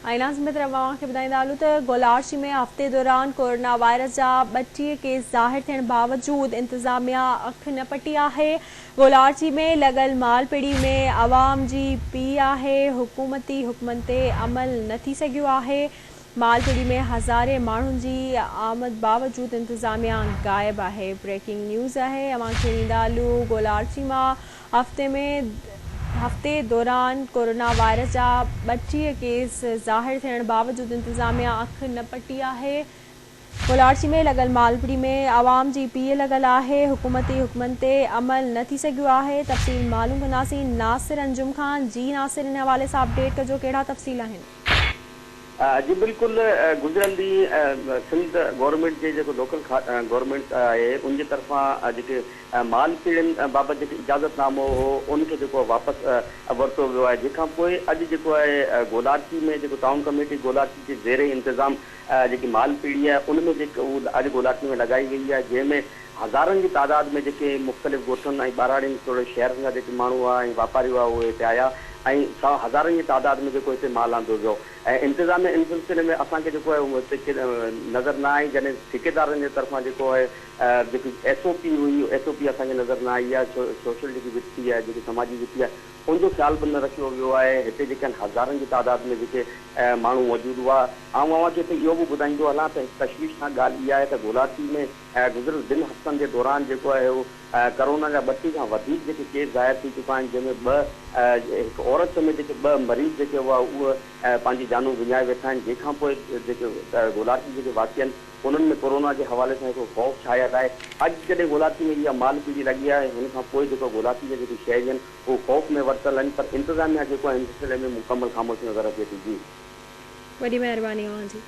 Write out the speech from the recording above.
۽ ناظم بهتر اوهان کي ٻڌائيندا هلون ته گولاڙچي ۾ هفتي دوران ڪورونا وائرس جا ٻٽيهه ڪيس ظاهر ٿيڻ باوجود انتظاميا اک نه پٽي آهي گولاڙچي ۾ لڳل مال پڙي ۾ عوام جي پي آهي حڪومتي حڪمن تي عمل نه ٿي سگهيو آهي مال پڙي ۾ هزارين ماڻهن جي آمد باوجود انتظاميا غائب آهي هفتي ۾ هفتي دوران ڪورونا وائرس جا ٻٽيهه ڪيس ظاهر ٿيڻ باوجود انتظاميا اک نه پٽي آهي، ڪولاڙچي ۾ لڳل مالپڙي ۾ عوام جي پيهه لڳل آهي، حڪومتي حڪمن تي عمل نه ٿي سگهيو آهي، تفصيل معلوم ڪنداسين ناصر انجم کان، جي ناصر ان حوالي سان اپڊيٽ ڪجو ڪهڙا تفصيل آهن. جي بلڪل گذريل ڏينهن سنڌ گورنمينٽ جي جيڪو لوڪل گورنمينٽ آهي ان جي طرفان جيڪي مال ڪيڙين بابت جيڪي اجازت نامو هو ان کي جيڪو واپس ورتو ويو آهي جنهن کان پوء اڄ جيڪو آهي گولاچي ۾ جيڪو ٽائون ڪميٽي گولاچي جي زير انتظام جيڪي مال پيڙهي آهي ان ۾ جيڪي هو اڄ گولاٽي ۾ لڳائي وئي آهي جنهن ۾ هزارن جي تعداد ۾ جيڪي مختلف ڳوٺن ۽ ٻهراڙين توڙي شهرن جا جيڪي ماڻهو هئا ۽ واپاري هئا اهي هتي آيا ۽ سا هزارن جي تعداد ۾ جيڪو هتي مال آندو ويو ۽ انتظاميه ان سلسلي ۾ اسان کي جيڪو آهي هتي ڪي نظر نه آئي جڏهن ٺيڪيدارن جي طرفان جيڪو آهي جيڪي ايس او پي هئي ايس او پي اسان کي نظر نه آئي يا سوشل جيڪي وٿي آهي جيڪي سماجي وٿي آهي ان جو خيال به نه رکيو ويو آهي. هتي جيڪن هزارن جي تعداد ۾ جيڪي ماڻهو موجود هئا. آئون اوهان کي هتي اهو به ٻڌائيندو هلان ته هڪ تشويشناڪ ڳالهه اها آهي ته گولاچي ۾ گذريل ٻن هفتن جي دوران جيڪو آهي اهو ڪرونا جا ٻٽي کان وڌيڪ جيڪي ڪيس ظاهر ٿي چڪا آهن جنهن ۾ ٻه هڪ عورت سميت جيڪي ٻه مريض جيڪي هئا اهي پنهنجي جانون وڃائي ويٺا آهن جنهن کانپوء جيڪي گولاچي جيڪي واسين انهن ۾ ڪورونا جي حوالي سان هڪڙو خوف ڇانيل آهي، اڄ جڏهن گولاٿي ۾ اها مال پيڙهي لڳي آهي ۽ ان کان پوء جيڪو گولاٿي جا جيڪي شهري آهن اهو خوف ۾ ورتل آهن پر انتظاميا جيڪو آهي ان سلسلي ۾ مڪمل خاموشي نظر اچي ٿي جي. وڏي مهرباني اوهان جي.